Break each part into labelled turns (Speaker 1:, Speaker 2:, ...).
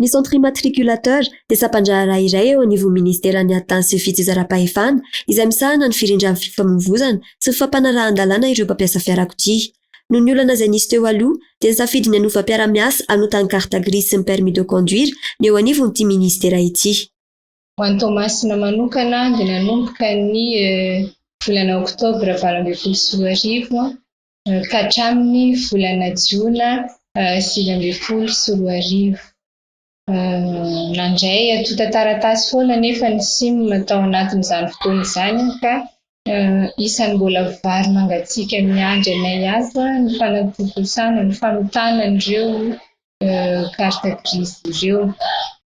Speaker 1: Ny Centre Immatriculateur dia sampan-draharaha iray eo anivon'ny Ministeran'ny Atany sy ny Fijizarampahefana, izay misahana ny firindran'ny fifamoivoizana sy ny fampanarahan-dalàna ireo mpampiasa fiarakodia. Noho ny olana izay nisy teo aloha, dia nisafidy ny hanova mpiara-miasa hanota ny carte grise sy ny permis de conduire ny eo anivon'ity Ministera ity. Ho an'i
Speaker 2: Toamasina manokana dia nanomboka ny volana oktobra valo ambin'ny folo sy roa arivo ka hatramin'ny volana jiona sivy ambin'ny folo sy roa arivo. Nandray antontan-taratasy foana anefa ny Sim tao anatin'izany fotoana izany ka isan'ny mbola vary mangatsiaka miandry anay ato ny fanatontosana ny famitana an'ireo carte grise ireo.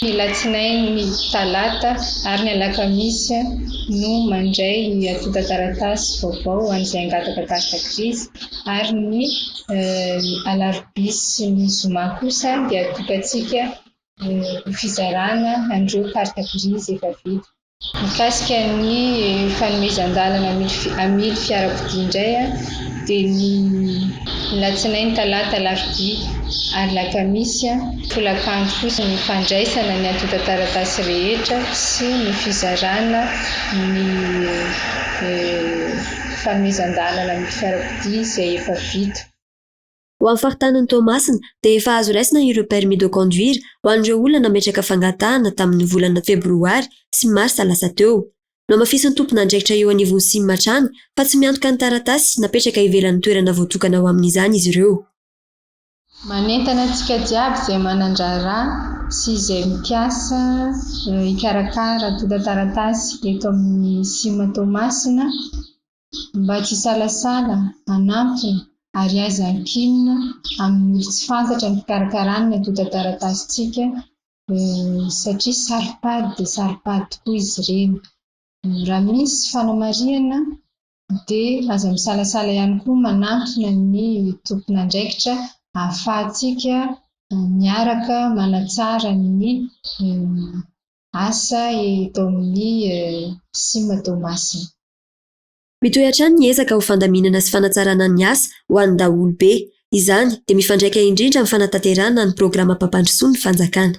Speaker 2: Ny alatsinainy, ny talata ary ny alakamisy no mandray ny antontan-taratasy vaovao ho an'izay hangataka karta grise ary ny alarobia sy ny zoma kosa dia atokantsika ho fizarana an'ireo karta grise efa vita. Mikasika ny fanomezan-dalana hamily fiarakodia indray dia ny alatsinainy, talata, alarobia ary lakamisy tolakandro kosa ny fandraisana ny antontan-taratasy rehetra sy ny fizarana ny fanomezan-dalana hamily fiarakodia izay efa vita. Ho amin'ny
Speaker 1: faritanin'i Toamasina dia efa azo raisina ireo permis de conduire ho an'ireo olona nametraka fangatahana tamin'ny volana febroary sy marsa lasa teo. Nohamafisin'ny tompon'andraikitra eo anivon'ny sim hatrany fa tsy miantoka ny taratasy napetraka ivelan'ny toerana voatokana ho amin'izany izy ireo.
Speaker 2: Manentana antsika jiaby izay manan-draharaha sy izay mikasa hikarakara antontan-taratasy eto amin'ny sim Toamasina Mba tsy hisalasala, hanampy, ary haiza hankinina amin'ny olo tsy fantatra ny fikarakarany ny antontan-taratasintsika, satria saropady dia saropady tokoa izy ireny. Raha misy fanamarihana dia aza misalasala ihany koa manantona ny tompon'andraikitra ahafahantsika miaraka manatsara ny asa eto amin'ny Cim Toamasina.
Speaker 1: Mitohy hatrany ny ezaka ho fandaminana sy fanatsarana ny asa ho an'ny daholobe. Izany dia mifandraika indrindra amin'ny fanatanterahana ny programam-pampandrosoan'ny fanjakana.